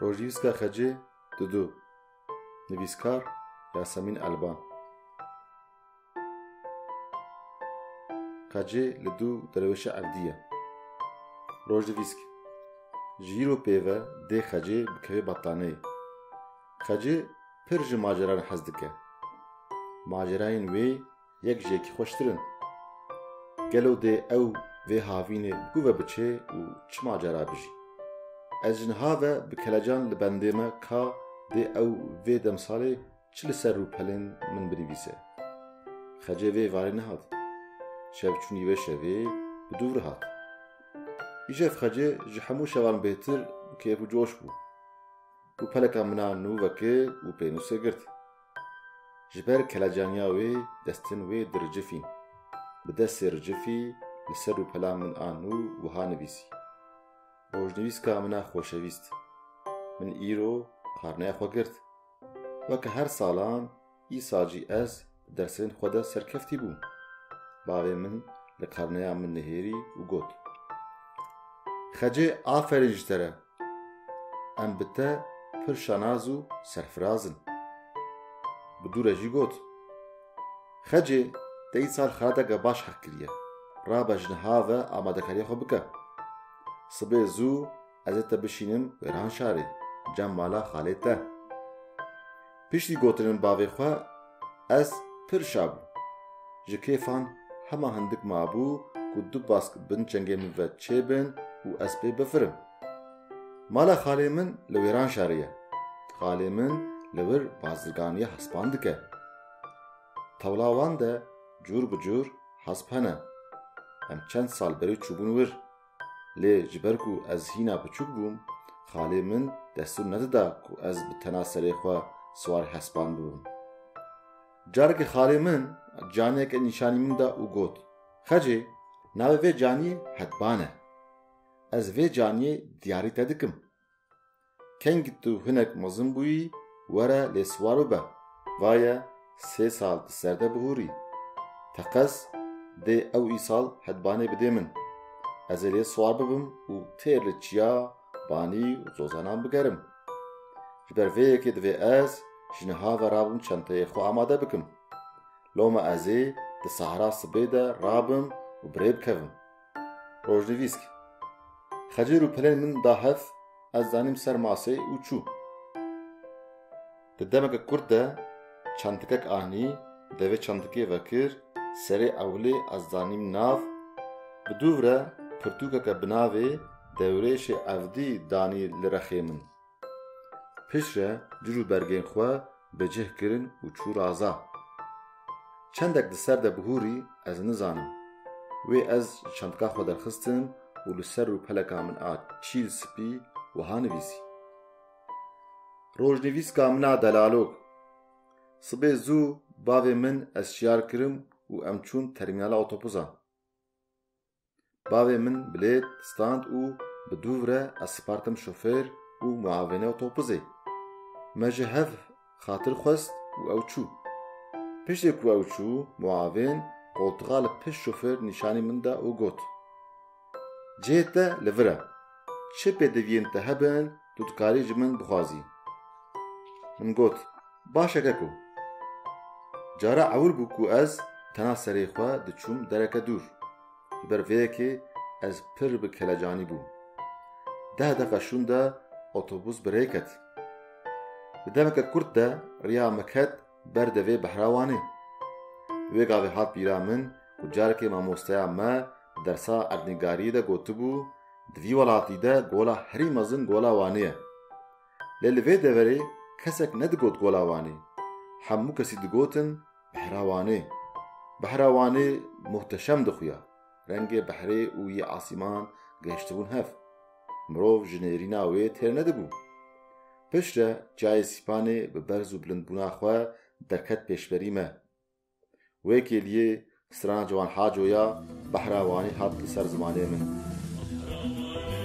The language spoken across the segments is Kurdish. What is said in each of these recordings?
Rojnîvîska Xecê Dudu Nivîskar Yasemîn Elban Xecê li dû derweşa evdî ye. Rojnivîsk Ji îro pê ve dê Xecê bikeve bataneyê. Xecê pir ji maceran hez dike. Macerayên wê Yek ji yekî xweştir in. Gelo dê ew vê havînê ku ve biçê û çima cara bijî? Ez ji niha ve bi kelecan li bendê me ka dê ew vê demsalê çi li ser rûpelên min binivîse. Xecê vê varê nehat. Şevçûnî vê şevê bi dû vir hat. Îşev xecê ji hemû şevan bêhtir bi kêf û coş bû. Rûpeleka min a nû vekir û pênûsê girt. Ji ber kelecaniya wê destên wê diricifîn. Bi destê ricifî li ser rûpela min an û wiha nivîsî, Rojnivîska min a xoşewîst, min îro karneya xwe girt. Weke her salan îsal jî ez di dersên xwe de serkeftî bûm. Bavê min li karneya min nihêrî û got, Xecê aferîn ji te re! Em bi te pir şanaz û serfiraz in. Bi dû re jî got, Xecê te îsal xiradeke baş heq kiriye. Rabe ji niha ve amadekariyê xwe bike. Sibê zû ez ê te bişînim wêran şarê, cem mala xalê te. Piştî gotinên bavê xwe ez pir şa bûm. Ji kêfan hema hindik mabû ku du bask bin çengê min ve çêbin û ez pê bifirim. Mala xalê min li wêran şarê ye. Xalê min li wir bazirganiyê hespan dike. Tewla wan de cûr bi cûr hesp hene. Em çend sal berê çûbûn wir. Lê ji ber ku ez hîna biçûk bûm, xalê min destûr nedida ku ez bi tena serê xwe siwar hespan bibim. Carekê xalê min caniyeke nîşanî min da û got, Xecê, navê vê caniyê Hedban e. Ez vê caniyê diyarî te dikim. Keng tu hinek mezin bûyî were lê siwar bibe. Va ye sê sal di ser de bihûrî. Teqez dê ew îsal hedbanê bidê min. Ez ê lê siwar bibim û têr li çiya, banî û zozanan bigerim. Ji ber vê yekê divê ez ji niha ve rabim çenteyê xwe amade bikim. Loma ez ê di sahra sibê de rabim û birêbikevim. Rojnivîsk Xecêr û pelên min da hev, ez danîm ser masê û çû. Di demeke kurt de çandikek anî, devê çandikê vekir, serê ewilê ez danîm nav, bi dûvre pirtûkeke bi navê Dewrêşê Evdî danî li rexê min. Piştre cir û bergên xwe bi cih kirin û çû raza. Çendek di ser de bihûrî ez nizanim. Wê ez ji çantka xwe derxistim û li ser rûpeleka min a çîl spî wiha nivîsî, Rojnivîska min a delalok. Sibê zû bavê min ez şiyar kirim û em çûn termînala otobûsan. Bavê min bilêt stand û bi dûv re ez sipartim şofêr û muavênê otobuzê. Me ji hev xatir xwest û ew çû. Piştê ku ew çû, muavên qoltiqa li pişt şofêr nîşanî min da û got, Cihê te li vir e. Çi pêdiviyên te hebin, Tu dikarî ji min bixwazî. Min got, Baş e keko. Cara ewil bû ku ez tena serê xwe diçûm dereke dûr. Ji ber vê yekê ez pir bi kelecanî bûm. Deh deqa şûnde otobûs bi rê ket. Di demeke kurt de riya me ket ber devê behra wan e. Wê gavê hat bîra min ku carekê mamosteya me di dersa erdnîgariyê de gotibû, Di vî welatî de gola herî mezin gola Wanê ye. Lê li vê deverê kesek nedigot gola Wanê. Hemû kesî digotin behra Wanê. Behra Wanê muhteşem dixuya. Rengê behrê û yê asîman gihiştibûn hev. Mirov ji nêrîna wê têr nedibû. Piştre çiyayê Sîpanê bi berz û bilindbûna xwe derket pêşberî me. Wê kêliyê strana Ciwan Haco ya behra Wanî hat li ser zimanê min.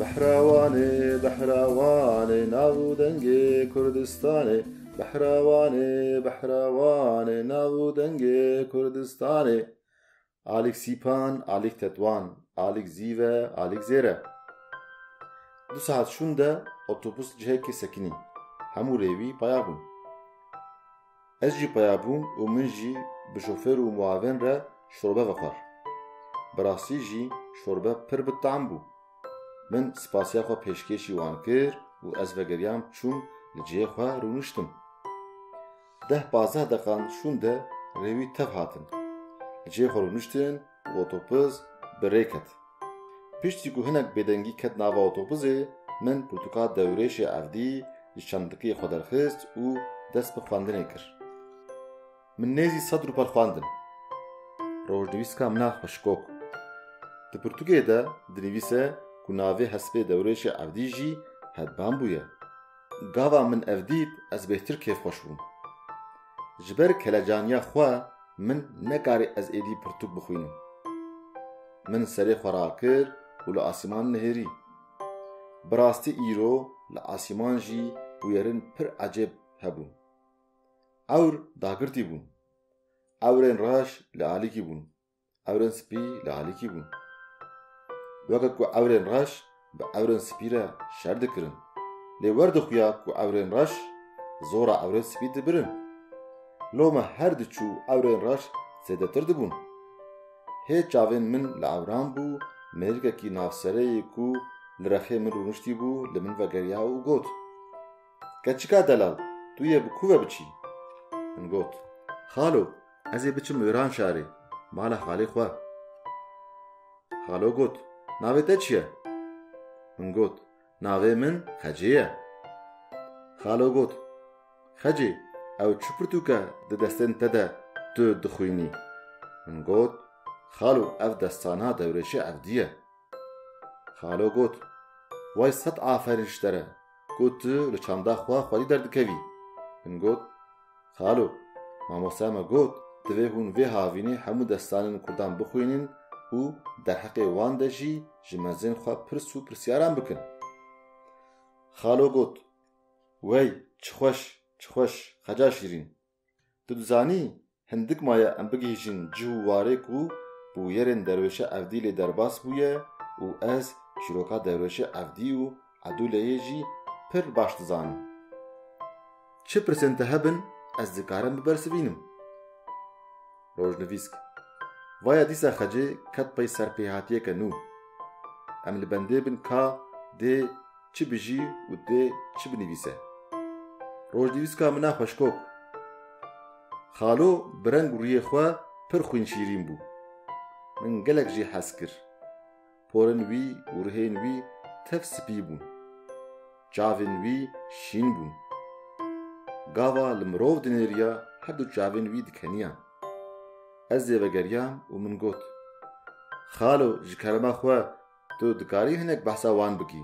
Behrawanê, behrawanê nav û dengê Kurdistanê Behrawanê, behrawanê nav û dengê Kurdistanê Alîk Sîpan, Alîk Tetwan, Alîk Zîve, Alîk Zêre Du saet şûnde otobus cihekê sekinî, hemû rê wî paya bûn. Ez jî peya bûm û min jî bi şofêr û muavên re şorbe vexwar. Bi rastî jî şorbe pir bi tam bû. Min spasiya xwe pêşkêşî wan kir û ez vegeriyam çûm li cihê xwe rûniştim. Deh pazdeh deqan şûnde rê wî tev hatin. Li cihê xwe rûniştin Otobuz bi rê ket. Piştî ku hinek bêdengî ket nava otobuzê, min pirtûka dewrêşê evdî ji çandikê xwe derxist û dest bi xwendinê kir. Min nêzî sed rûpel xwendin. Rojnivîska min a xweşikok. Di pirtûkê de dinivîse ku navê hespê dewrêşê evdî jî Hedbambû ye. Gava min ev dît ez bêhtir kêfxweş bûm. Ji ber kelecaniya xwe min nekarî ez êdî pirtûk bixwînim. Min serê xwe rakir û li asîman nihêrî. Bi rastî îro li asîman jî bûyerên pir ecêb hebûn. Ewr dagirtî bûn. Ewrên reş li alîkî bûn. Ewrên spî li alîkî bûn. Weke ku ewrên reş bi ewrên spî re şer dikirin. Lê wer dixuya ku ewrên reş zora ewrên spî dibirin. Lome her diçû ewrên reş zêdetir dibûn. Hê çavên min li ewran bû, mêrikekî navsereyê ku li rexê min rûniştî bû li min vegeriya û got, Keçika delal, tu yê bi ku ve biçî? Min got, Xalo, Ez ê biçim Îran şarê, mala xalê xwe. Xalo got, Navê te çi ye? Min got, Navê min Xecê ye. Xalo got, Xecê, ew çi pirtûke di destên te de tu dixwînî? Min got, Xalo, ev destana dewrêşê evdî ye. Xalo got, Way sed aferin ji te re ku tu li çanda xwe xwedî derdikevî. Min got, Xalo, mamosteya me got, divê hûn vê havînê hemû destanên kurdan bixwînin û derheqê wan de jî ji mezên xwe pirs û pirsyaran bikin. Xalo got, Wey, çi xweş, çi xweş, xeca şîrîn. Tu dizanî, hindik maye em bigihîjin cih û warê ku bi wiyerên derwêşa Evdî lê derbas bûye û ez çîroka derwêşa Evdî û Edûleyê jî pir baş dizanim. Çi pirsên te hebin ez dikarim bibersivînim. Rojnivîsk, Vaya dîsa xecê ket pey ser pêhatiyeke nû. Em li bendê bin ka dê çi bijî û dê çi binivîse. Rojnivîska min a xweşkok. Xalo bi reng û riyê xwe pir xwînşîrîn bû. Min gelek jî hez kir. Porên wî û rihên wî tev spî bûn. Çavên wî şîn bûn. Gava li mirov dinêriya herdu çavên wî dikeniyan. Ez ê vegeriyam û min got, Xalo ji kerema xwe tu dikarî hinek behsa wan bikî?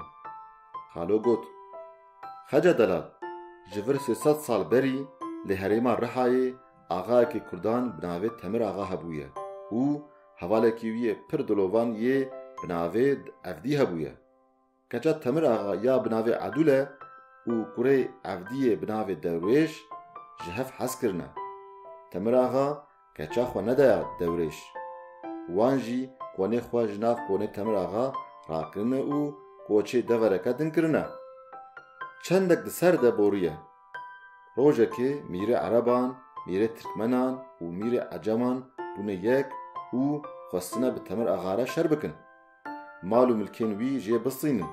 Xalo got, Xeca delal, ji vir sê sed sal berî li herêma Rihayê axayekî kurdan bi navê Temir Axa hebûye û Hevalekî wî yê pir dilovan yê bi navê Evdî hebûye. Keça Temir Axa ya bi navê Edûle û kurê Evdî yê bi navê Dewrêş ji hev hez kirine. Temir Axa keça xwe nedaya Dewrêş. Wan jî konê xwe ji nav konê Temir Axa rakirine û koçê devereke din kirine. Çendek di ser de borîye. Rojekê mîrê ereban, mîrê tirkmenan û mîrê eceman bûne yek û xwestine bi Temir Axa re şer bikin. Mal û milkên wî jê bistînin.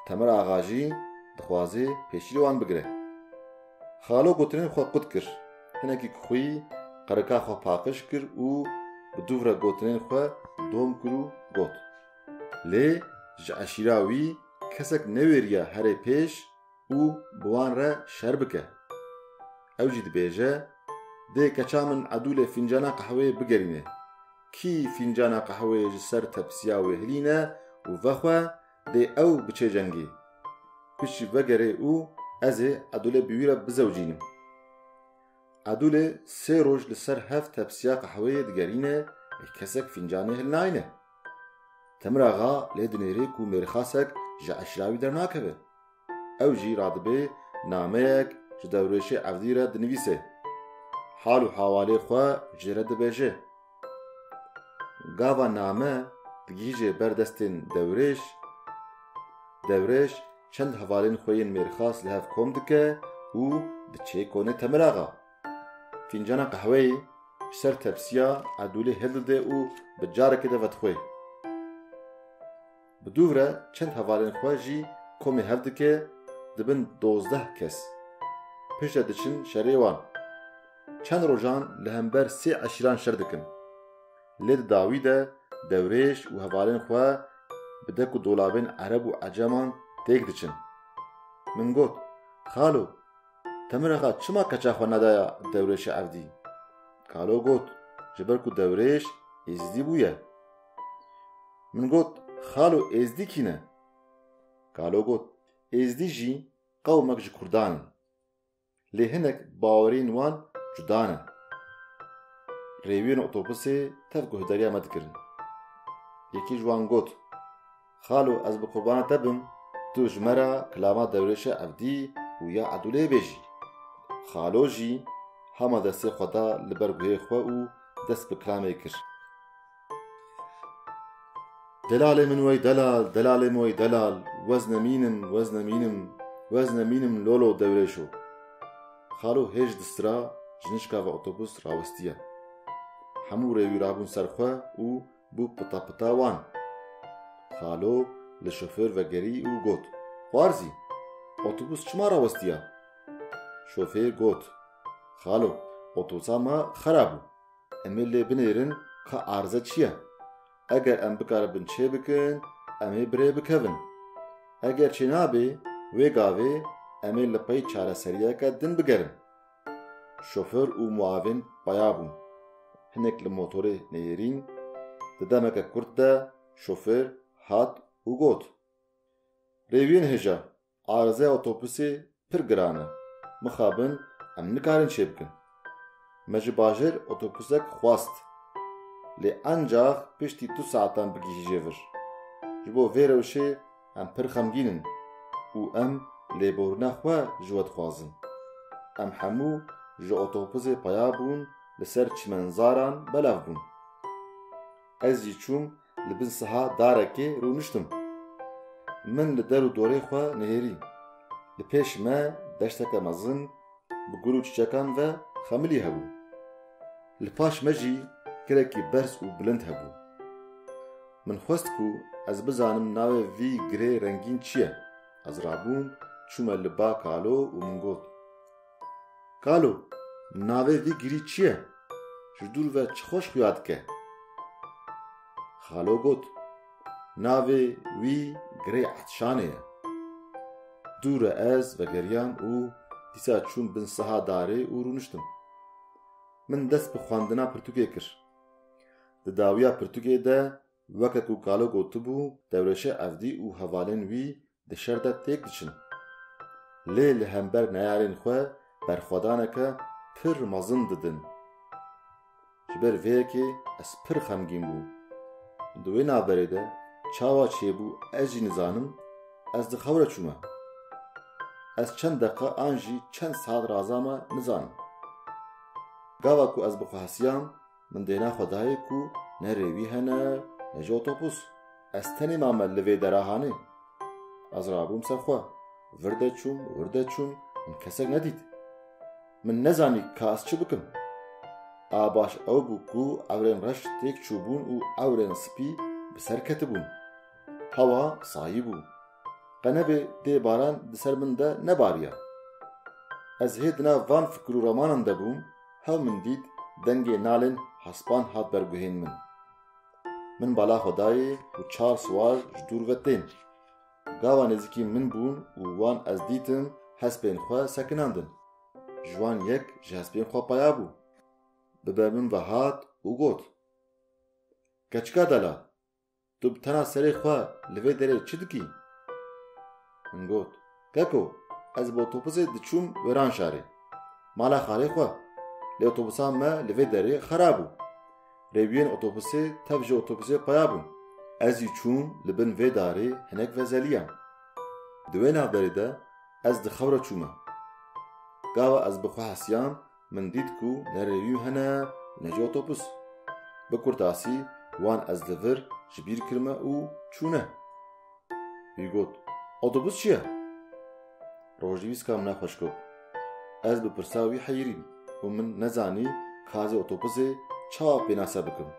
Temir Axa jî dixwazê pêşî li wan bigire. Xalo gotinên xwe qut kir. Hinekî kixwî qerika xwe paqij kir û bi dûvre gotinên xwe dom kir û got. Lê ji eşîra wî kesek newêriya herê pêş û bi wan re şer bike. Ew jî dibêje, Dê keça min Edûlê fîncana qehweyê bigerîne. Kî fîncana qehweyê ji ser tepsiya wê hilîne û vexwe, dê ew biçe cengî. Piştî vegerê û ez ê Edûlê bi wî re bizewicînim. Edûlê sê roj li ser hev tepsiya qehweyê digerîne lê kesek fîncanê hilnayîne. Temiraxa lê dinêrê ku mêrxasek ji eşira wî dernakeve. Ew jî radibê nameyek ji dewrêşê evdî re dinivîsê. Hal û hewalê xwe jê re dibêje. Gava name digihîje ber destên dewrêş, dewrêş çend hevalên xwe yên mêrxas li hev kom dike û diçe konê Temiraxa. Fîncana qehweyê ji ser tepsiya edûlê hildide û bi carekê de vedixwe. Bi dûv re çend hevalên xwe jî komê hev dike, dibin dozdeh kes. Piştre diçin şerê wan. Çend rojan li hember sê eşîran şer dikin. Lê di dawî de dewrêj û hevalên xwe bi dek û dolabên ereb û eceman têk diçin. Min got, Xalo, te min re xa çima keça xwe nedaya dewrêşê evdî? Kalo got, Ji ber ku dewrêş êzidî bûye. Min got, Xalo Êzdî kî ne? Kalo got, Êzdî jî qewmek ji Kurdan in. Lê hinek bawerên wan cuda ne. Rêwiyên otobusê tev guhdarîya me dikirin. Yekê ji wan got. Xalo ez bi qurbana te bim, tu ji me re kilama dewrêşe evdî û ya edûlê bêjî. Xalo jî hema destê xwe da li ber guhê xwe û dest bi kilamê kir. Delalê min wey delal, delalê min wey delal, wez nemînim, wez nemînim, wez nemînim lolo dewrêşo. Xalo hêj di sira ji nişka ve otobus rawistiye. Hemû rê wî rabûn ser xwe û Bû pita pita wan. Xalo li şofêr vegerî û got, Xwar zî, otobûs çima rawestiya? Şofêr got, Xalo, otosa me xera bû. Em ê lê binêrin ka arze çi ye. Eger em bikaribin çê bikin, em ê bi rê bikevin. Eger çê nabê, wê gavê em ê li pey çareseriyeke din bigerin. Şoför û muavin paya bûn. Hinek li motorê neyêrîn. Di demeke kurt de şofêr hat û got, Rêwiyên hêja, arizeya otobusê pir giran e. Mixabin em nikarin çê bikin. Me ji bajêr otobusek xwest. Lê encax piştî du saetan bigihîje vir. Ji bo vê rewşê Em pir xemgîn in û em lêborîna xwe ji we dixwazin. Em hemû ji otobusê peya bûn li ser çimenzaran belav bûn. Ez jî çûm li bin siha darekê rûniştim. Min li der û dorê xwe nihêrî. Li pêş me deşteke mezin Bi gul û çiçekan ve xemilî hebû. Li paş me jî girekî berz û bilind hebû. Min xwest ku ez bizanim navê vî girê rengîn çi ye. Ez rabûm, çûme li ba Kalo û min got, Kalo, navê vî girî çi ye? Ji dûr ve çi xweş xuya dike? Kalo got, Navê wî Girê Etşanê ye. Dû re ez vegeriyam û dîsa çûm bin siha darê û rûniştim. Min dest bi xwendina pirtûkê kir. Di dawiya pirtûkê de weke ku kalo gotibû, Dewreşe Evdî û hevalên wî di şer de têk diçin. Lê li hember neyarên xwe berxwedaneke pir mezin didin. Ji ber vê yekê ez pir xemgîn bûm. Di wê navberê de çawa çêbû ez jî nizanim, ez di xew re çûme. Ez çend deqa an jî çend saet raza me nizanim. Gava ku ez bi xwe hesiyam, Min dêna xwe dayê ku ne rêwî hene ne jî otobûs. Ez tenê mame li vê dera hanê. Ez rabûm ser xwe. Vir de çûm, wir de çûm, min kesek nedît. Min nezanî ka ez çi bikim. A baş ew bû ku ewrên reş têk çûbûn û ewrên spî bi ser ketibûn. Hewa sayî bû. Qe nebê dê baran di ser min de nebariya. Ez hê di nav van fikir û ramanan de bûm, hew min dît dengê nalên hespan hat ber guhên min. Min bala xwe dayê û çar siwar ji dûr ve tên. Gava nêzîkî min bûn û wan ez dîtim hespên xwe sekinandin. Ji wan yek ji hespên xwe paya bû. Bi ber min ve hat û got, Keçika dela, Tu bi tena serê xwe li vê derê çi dikî? Min got, Keko, ez bi otobusê diçûm Wêranşarê, mala xalê xwe. Lê otobusa me li vê derê xera bû. Rêwiyên otobusê tev ji otobusê xuya bûn. Ez jî çûm li bin vê darê hinek vezeliyam. Di wê navberê de ez di xewre çûme. Gava ez bi xwe hesiyam Min dît ku ne revîw hene ne jî otobus. Bi kurtasî wan ez li vir ji bîr kirime û çûne. Wî got, Otobus çi ye? Rojnivîska min e xweş got. Ez bi pirsa wî heyirîm û min nezanî kazê otobusê çawa pênase bikim.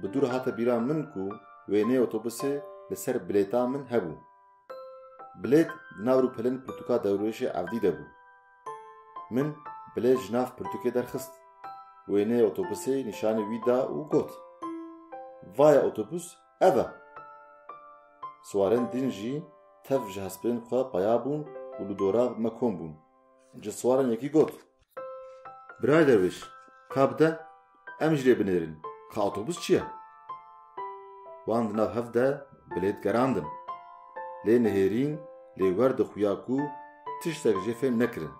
Bi dû re hate bîra min ku wêneyê otobusê li ser bilêta min hebû. Bilêt di nav rûpelên pirtûka dewrêşê evdî de bû. Min bilê ji nav pirtûkê derxist. Wêneyê otobusê nîşanî wî da û got, Vaya otobus ev e. Siwarên din jî tev ji hespên xwe peya bûn û li dora me kom bûn. Ji siwaran yekî got. Birayê derwêş, ka bide Em jî lê binêrin ka otobus çi ye? Wan di nav hev de bilêt gerandin. Lê nihêrîn lê wer dixuya ku tiştek jê fêm nekirin.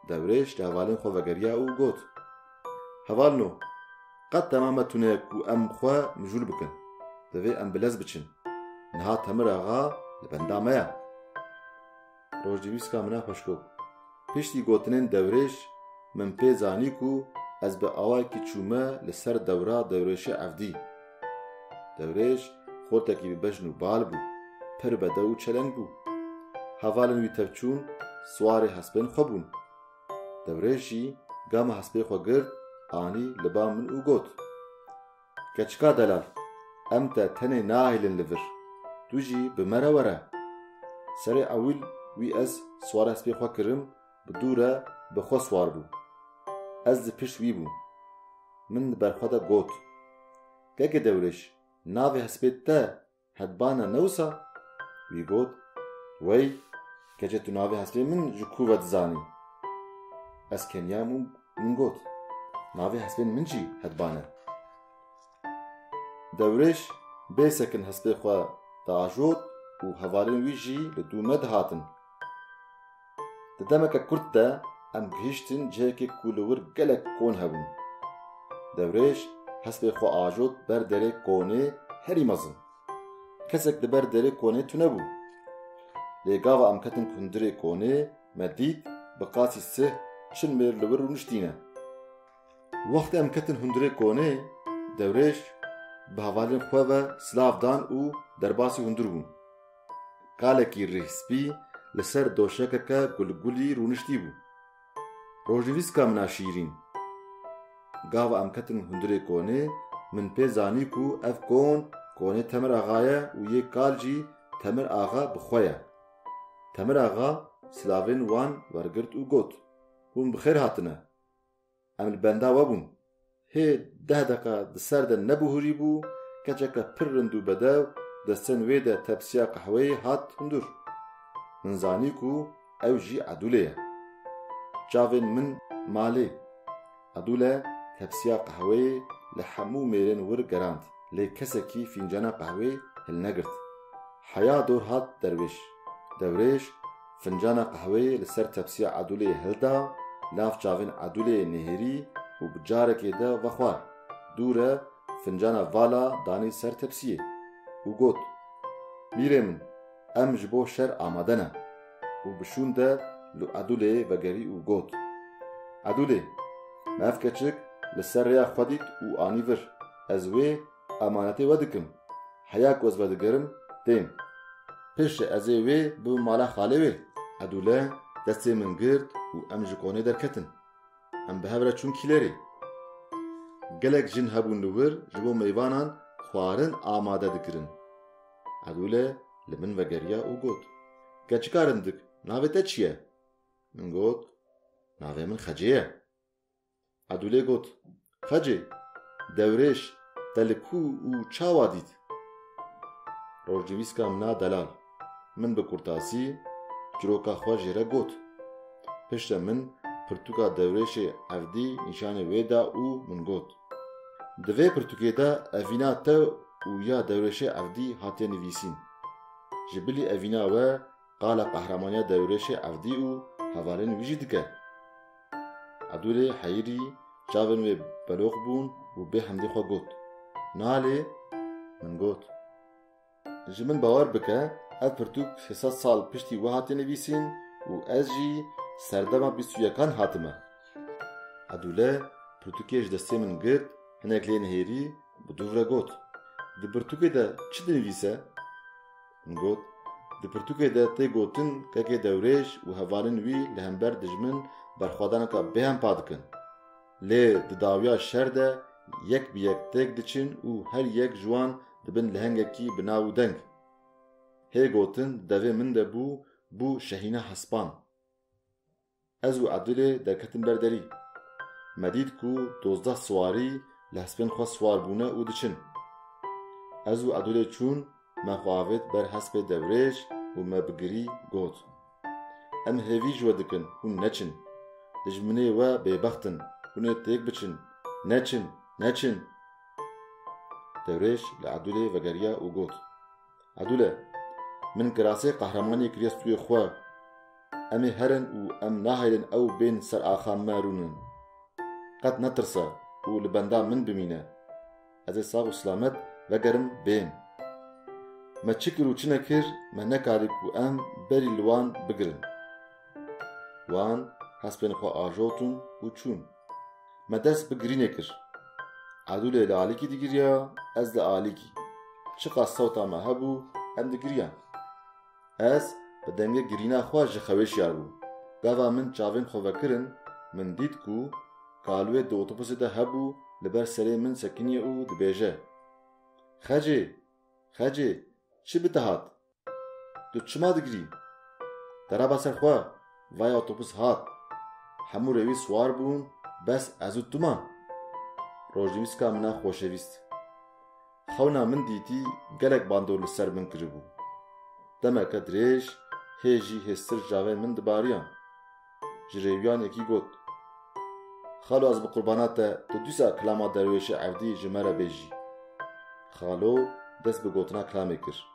Dewrêj li hevalên xwe vegeriya û got, Hevalino, qet dema me tune ye ku em xwe mijûl bikin. Divê em bi lez biçin. Niha Temir axa li benda me ye. Rojnivîska min a xweşkop. Piştî gotinên dewrêş min pê zanî ku ez bi awayekî çûme li ser dewra dewrêşê evdî. Dewrêş xortekî bi bejn û bal bû, pir bedew û çeleng bû. Hevalên wî tevçûn siwarê hespên xwe bûn. Dewrêş jî gama hespê xwe girt anî li ba min û got. Keçika delal, em te tenê nahêlin li vir, tu jî bi me re were. Serê ewil wî ez swara spê xwe kirim bi dû re bi xwe swar bû. Ez di pişt wî bûm. Min li ber xwe de got, Gegedewrêj navê hespê te Hebana ne wisa? Wî got, Wey, keçê tu navê hespê min ji ku ve dizanî? Ez keniyam û min got, Navê hespên min jî Hebban e. Dewrêj bê sekin hespê xwe diajot û hevalên wî jî li dû me dihatin. Di demeke kurt de em gihîştin cihekê ku li wir gelek kon hebûn. Dewrêj hespê xwe ajot ber derê konê herî mezin. Kesek li ber derê konê tune bû. Lê gava em ketin hundirê konê me dît bi qasî sih çil mêr li wir rûniştîne. Wextê em ketin hundirê konê, dewrêj bi hevalên xwe ve silav dan û derbasî hundir bûn. Kalekî rîhspî li ser doşekeke gulgulî rûniştî bû. Rojnivîska min a şîrîn. Gava em ketin hundirê konê min pê zanî ku ev kon konê Temir Axa ye û yê kal jî Temir Axa bi xwe ye. Temir Axa silavên wan wergirt û got, Hûn bi xêr hatine. Em li benda we bûn. Hê deh deqa di ser de nebihûrî bû, keçeke pir rind û bedew destên wê de tepsiya qehweyê hat hundir. Min zanî ku ew jî Edûlê ye. Çavên min malê. Edûle tepsiya qehweyê li hemû mêrên wir gerand, lê kesekî fîncana qehwê hilnegirt. Heya dor hat derwêş. Dewrêj, fincana qehweyê li ser tepsiya Edûleyê hilda, nav çavên Edûleyê nihêrî û bi carekê de vexwar. Dûre, fincana vala danî ser tepsiyê û got, Mîrê min, em ji bo şer amade ne. Û bi şûn de li Edûlê vegerî û got, Edûlê, me ev keçik li ser rêya xwe dît û anî vir, ez wê Emanetê we dikim. Heya ku ez vedigerim tên. Pêşê ez ê wê bibim mala xalê wê. Edûle destê min girt û em ji konê derketin. Em bi hev re çûn kîlerê. Gelek jin hebûn li wir ji bo mêvanan xwarin amade dikirin. Edûle li min vegeriya û got, Keçikar indik, navê te çi ye? Min got, Navê min Xecê ye. Edûlê got, Xecê, dewrêj te li ku û çawa dît? Rojnivîska min a delal. Min bi kurtasî çiroka xwe jê re got. Piştre min pirtûka dewrêjê evdî nîşanê wê da û min got, Di vê pirtûkê de evîna te û ya dewrêjê evdî hatiye nivîsîn. Ji bilî evîna we Qala qehramaniya dewrêşê evdî û hevalên wî jî dike. Ebdûlê Heyîrî çavên wê beloq bûn û bê hemdî xwe got, Nalê! Min got, Ji min bawer bike, ev pirtûk sê sed sal piştî wiha tê nivîsîn û ez jî serdema bîst û yekan hatime. Ebdûle pirtûkê ji destê min girt, hinek lê nihêrî, bi dû re got, Di pirtûkê de çi dinivîse? Min got, Di pirtûkê de tê gotin kekê dewrêj û hevalên wî li hember dijmin berxwedaneka bêhempa dikin. Lê di dawiya şer de yek bi yek têk diçin û her yek ji wan dibin lehengekî bi nav û deng. Hê gotin di devê min de bû, bû Şehîna Hespan. Ez û Ebdulê derketin ber derî. Me dît ku dozdeh siwarî li hespên xwe siwar bûne û diçin. Ez û Ebdulê çûn, me xwe avêt ber hespê dewrêj û me bi girî got, Em hêvî ji we dikin, hûn neçin. Dijminê we bêbext in, hûn ê têk biçin. Neçin! Neçin! Dewrêj li Ebdulê vegeriya û got. Edule, min kirasê qehremanê kiriye stûyê xwe. Em ê herin û em naheylin ew bên ser axa me rûnin. Qet netirse û li benda min bimîne. Ez ê sax û silamet vegerim bên. Me çi kir û çi nekir me nekarî ku em berî li wan bigirin. Wan hespên xwe ajotin û çûn. Me dest bi girînê kir. Edûlê li alîkî digiriya, ez li alîkî. Çiqas sewta me hebû, em digiriyan. Ez bi dengê girîna xwe ji xewê şiyabûm. Gava min çavên xwe vekirin, min dît ku Kalwê di otobusê de hebû li ber serê min sekiniye û dibêje, Xecê! Xecê! Çi bi te hat? Tu çima digirî? Te reba ser xwe, vay otobus hat. Hemû rewî siwar bûn, bes ez û tu man. Rojnîvîska min a xoşevîst. Xewna min dîtî gelek bandor li ser min kiribû. Demeke dirêj hê jî hêztir cavên min dibariyan. Ji rêwiyan yekî got, Xalo ez bi qurbana te tu dîsa kilama derwêşê erdî ji me re bêjî. Xalo dest bi gotina kilamê kir.